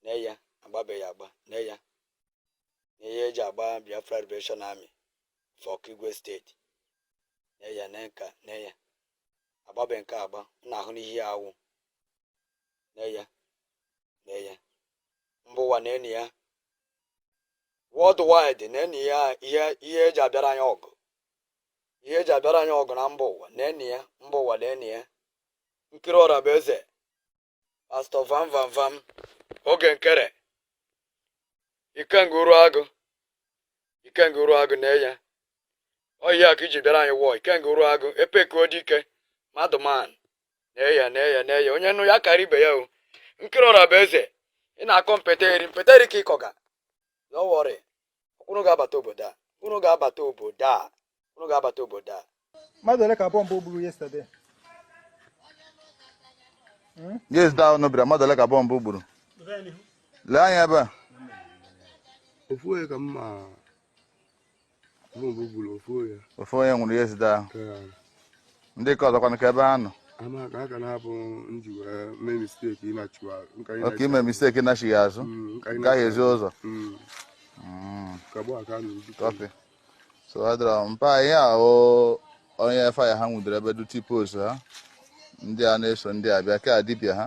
nee ya agbabeghị agba nee ya na ihe eji agba Biafra Liberation Army for Okigwe steeti nee ya nee nke a nee ya agbabe nke agba na ahụ n'ihe ya awụ nee ya nee ya mba ụwa nene ya worldwide nene ya ihe ihe eji abịara anyị ọgụ ihe eji abịara anyị ọgụ na mba ụwa nene ya mba ụwa nene ya nkiri ọra bụ eze pastọ vam vam vam oge nkere ikenga uru agụ ikenga uru agụ nee ya ọ ihe a ka iji bịara anyị war ikenga uru agụ ebekuo dike madman nee ya nee ya nee ya onye nụ ya kara ibe ya o nkiri ọra bụ eze ị na-akọ mpeteri mpeteri ka ịkọga don't worry Unu ga-abata obodo a. Unu ga-abata obodo a. Unu ga-abata obodo a. Mmadụ ole ka bọmbụ gburu yesterday? Hmm? Yesterday ahụ unu bịara. Mmadụ ole ka bọmbụ gburu? Lee anya ebe a. Ofu onye ka m ma bọmbụ gburu ofu onye. Ofu onye nwụrụ yesterday ahụ. ndị nke ọzọ kwanụ ka ebe ha nọ ama ka aka na-abụ m ji wee mee misteki ịnachiwa nka oke ịnachi- ime misteki nachighaa azụ Mm, nka gaghị ịnachi- ezi ụzọ Mm, Mm, ka gbaa ka a na-eji kọfị so ọ dịrọ mpa ihe a o onye faya ha nwudere ebe duti post ha ndị a na-eso ndị a bịa ka dibịa ha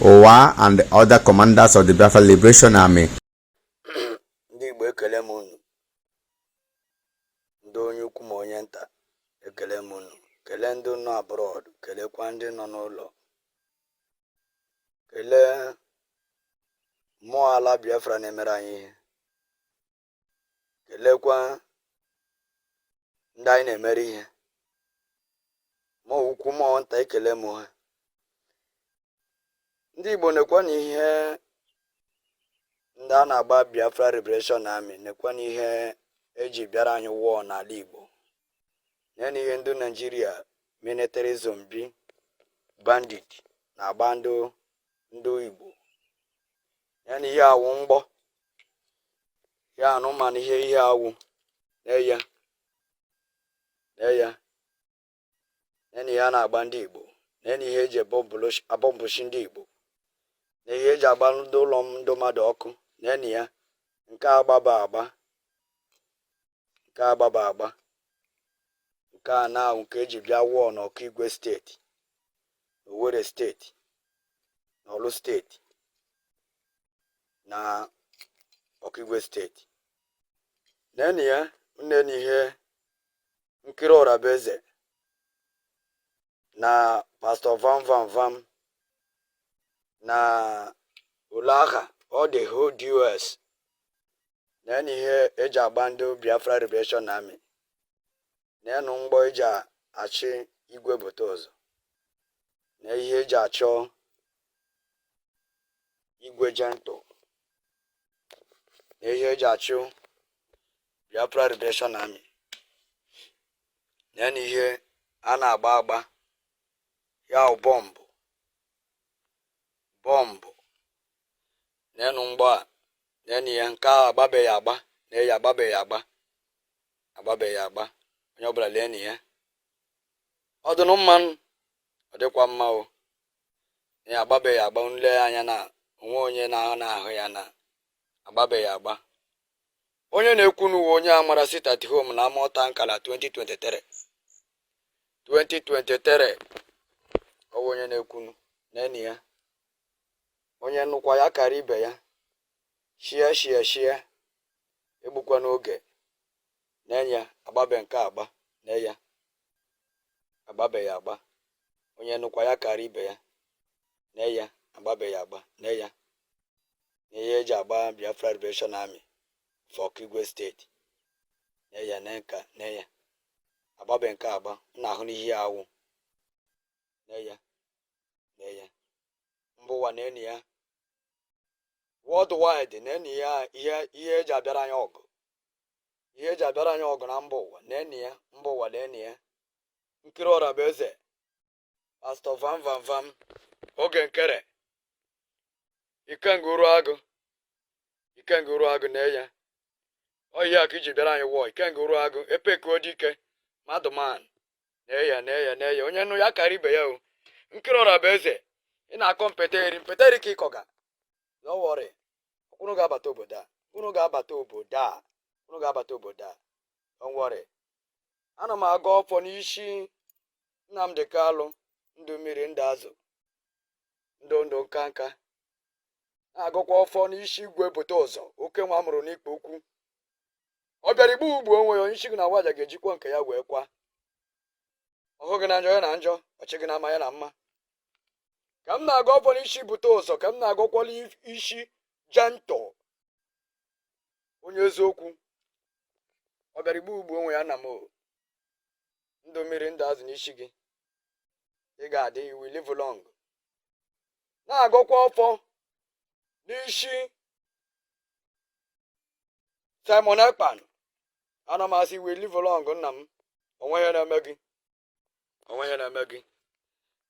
Ụwa and the other commanders of the Biafra Liberation Army. Ndị Igbo ekele m unu. Ndị onye ukwu ma onye nta ekele m unu. Kelee ndị nọ abroad, kelekwa ndị nọ n'ụlọ. Kelee mmụọ ala Biafra na-emere anyị ihe. kelekwa ndị anyị na-emere ihe mmụọ ukwu mmụọ nta ekele m ha ndị Igbo nekwa na ihe ndị a na-agba Biafra Liberation Army nekwa na ihe eji bịara anyị war n'ala Igbo nene ihe ndị Naijiria military zombi bandit na-agba ndị Igbo nene ihe a wụ mgbọ ya unu mana ihe ihe a wụ nee ya nee ya nene ihe a na-agba ndị igbo nene ihe eji abọmbụchi ndị igbo na ihe eji agba ndị ụlọ ndị mmadụ ọkụ nene ya nke agbaba agba nke a gbaba agba nke a na nke eji bịa war n'Okigwe steeti Owerri steeti na Orlu steeti na Okigwe steeti nenu ya nene ihe nkiri ọra bụ eze na pastọ vam vam vam na ulaha all the whole dos nenụ ihe eji agba ndị biafra liberation army nenụ mgbọ eji achụ igwe bute ụzọ na ihe eji achọ igwe gentle na ihe eji achụ Biafra Liberation Army nenụ ihe a na-agba agba ya bọmbụ bọmbụ nenụ mgbọ a nenụ ihe nke a agbabeghị agba nee ya agbabeghị agba agbabeghị agba onye ọbụla leenụ ya ọ dịnụ mma ọ dịkwa mma o nee ya agbabeghị agba nle anya na onwe onye na-ahụ na-ahụ ya na agbabeghị agba Onye na-ekwunu wụ onye a mara sit at home na Amata Nkala 2023 2023 ọwụ onye na-ekwunu nenụ ya onye nụkwa ya kara ibe ya share share share egbukwana oge nenụ ya agbabe nke a agba nee ya agbabe ya agba onye nụkwa ya kara ibe ya nee ya agbabe ya agba nee ya na ihe eji agba Biafra Liberation Army for Okigwe State nee ya nee nke a nee ya agbabe nke a agba na-ahụnụ ihe ọ wụ nee ya nee ya mba ụwa nenụ ya worldwide nenụ ya ihe ihe eji abịara anyị ọgụ ihe eji abịara anyị ọgụ na mba ụwa nenụ ya mba ụwa nenụ ya Nkiri Ọrabụeze pastọ vam vam vam oge nkere ikenga uruagụ ikenga uruagụ nee ya ọ ya ka i ji bịara anyị war ikenga uruagụ epekuo dike madụman nee ya nee ya nee ya onye nụ ya kara ibe ya o nkiri ọrabụeze ị na-akọ mpeteri mpeteri ka ịkọga no worry unu ga-abata obodo a unu ga-abata obodo a unu ga-abata obodo a don't worry ana m agọ ọfọ n'isi Nnamdi Kalụ ndụ mmiri ndụ azụ ndụ ndụ nka nka na-agọkwa ọfọ n'isi igwe bute ụzọ oke nwa mụrụ n'ikpe ukwu ọ bịara igbu gbuo onwe ya onye isi gị na waja ga-ejikwa nke ya wee kwa ọhụ gị na njọ ya na njọ ọchị gị na mma ya na mma ka m na-agọ ọfọ n'isi bute ụzọ ka m na-agọkwa n'isi Gentle onye eziokwu ọ bịara igbu gbuo onwe ya na m ndụ mmiri ndụ azụ n'isi gị ị ga-adị you will live long na-agọkwa ọfọ n'isi Simon Ekpa ana m asị you will live long nna m o nweghị ihe na-eme gị o nweghị ihe na-eme gị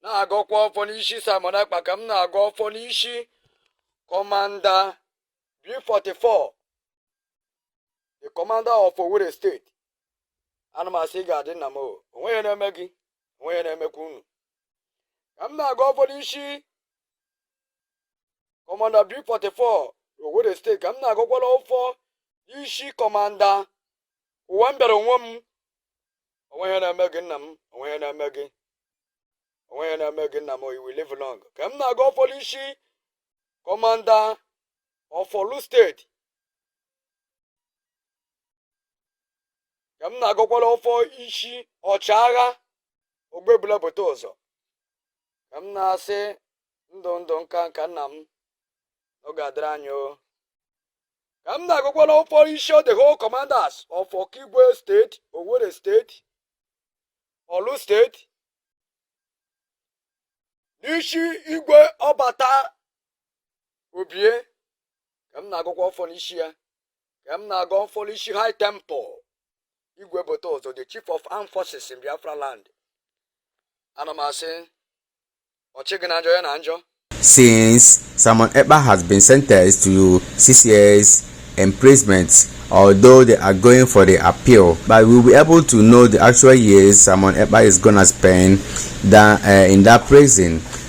na-agọkwa ọfọ n'isi Simon Ekpa ka m na-agọ ọfọ n'isi kọmanda B44 the commander of Owerri steeti ana m asị ị ga-adị nna m o nweghị ihe na-eme gị o nweghị ihe na-emekwa unu ka m na-agọ ọfọ n'isi kọmanda B44 Owerri steeti ka m na-agọkwala ọfọ isi kọmanda ụwa m bịara onwe m o nweghị ihe na-eme gị nna m o nweghị ihe na-eme gị o nweghị ihe na-eme gị nna m you will live long ka m na-agọ ọfọ n'isi kọmanda of Orlu steeti ka m na-agọkwala ọfọ isi ọchịagha ogbebula bute ụzọ ka m na-asị ndụ ndụ nka nka nna m ọ ga-adịrị anyị o ka m na-agọkwala ọfọ isi the whole commanders of Okigwe steeti Owerri steeti Orlu steeti n'isi igwe ọbata obie ka m na-agọkwa ọfọ n'isi ya ka m na-agọ ọfọ n'isi High Temple igwe bute ụzọ the chief of armed forces in Biafra land ana m asị ọchị gị na njọ ya na njọ Since Simon Ekpa has been sentenced to six years imprisonment, although they are going for the appeal, but we'll be able to know the actual years Simon Ekpa is gonna spend that, uh, in that prison.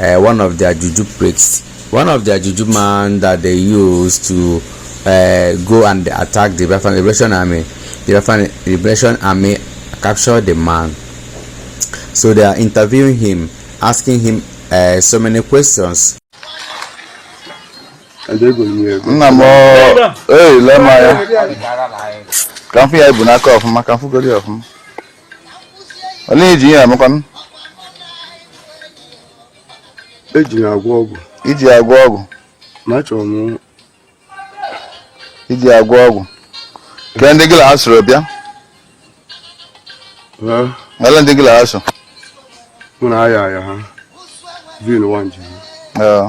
uh, one of their juju priests, one of their juju man that they use to uh, go and attack the Biafran Liberation Army. The Biafran Liberation Army captured the man. So they are interviewing him, asking him uh, so many questions. nna m ee lee m anya ka mfụ ya ibu n'aka ọfụma ka mfụgoro ya ọfụma ọ na-eji ihe amakwanụ eji ya agwọ ọgwụ iji agwọ ọgwụ ma achọrọ m iji agwọ ọgwụ kee ndị gị la ha soro bịa olee ndị gị la ha so mụ na aya aya ha vin wan ji ha Ee.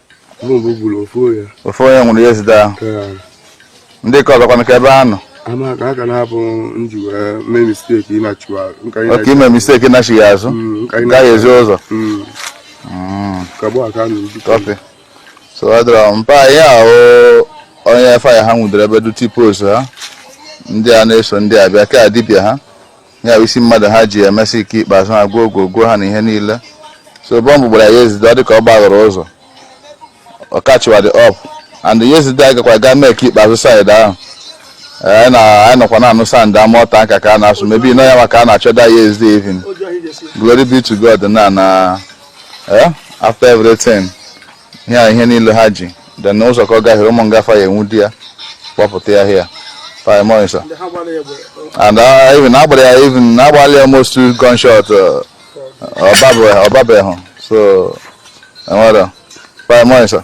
ofu onye nwụrụ yesterday ahụ ndị ka ọzọkwanụ ka ebe a nọ oke ime mistake nachighị azụ gaghị ezi ụzọ kọfị so ọ dịrọ mpa ihe ahụ onye fire ha nwudere ebe duty post ha ndị a na-eso ndị a bịa ka dibịa ha ya bụ isi mmadụ ha ji emesi ike ikpeazụ ha gwuo ogwo gwuo ha na ihe niile so bọmbụ gbara yesterday ọ dị ka ọ gbaghọrọ ụzọ ọ kachiwa dị ọp and yesterday anyị gakwa gaa mee ka ikpeazụ side ahụ anyị na- anyị nọkwa na-anụ sound ama ọta nka ka a na-asụ maybe nọ ya maka a na-achọ that yesterday even glory be to God na na eh, after everything ihe a ihe niile ha ji then ụzọ ka ọ gahiere ụmụ nga fa ya enwude ya kpọpụta ya here paimọisa ndị ha gbara ya egbe and uh, even agbara ya even agbalị almost two gunshot uh, ọbabe- ọ babeghị so enwere paimọisa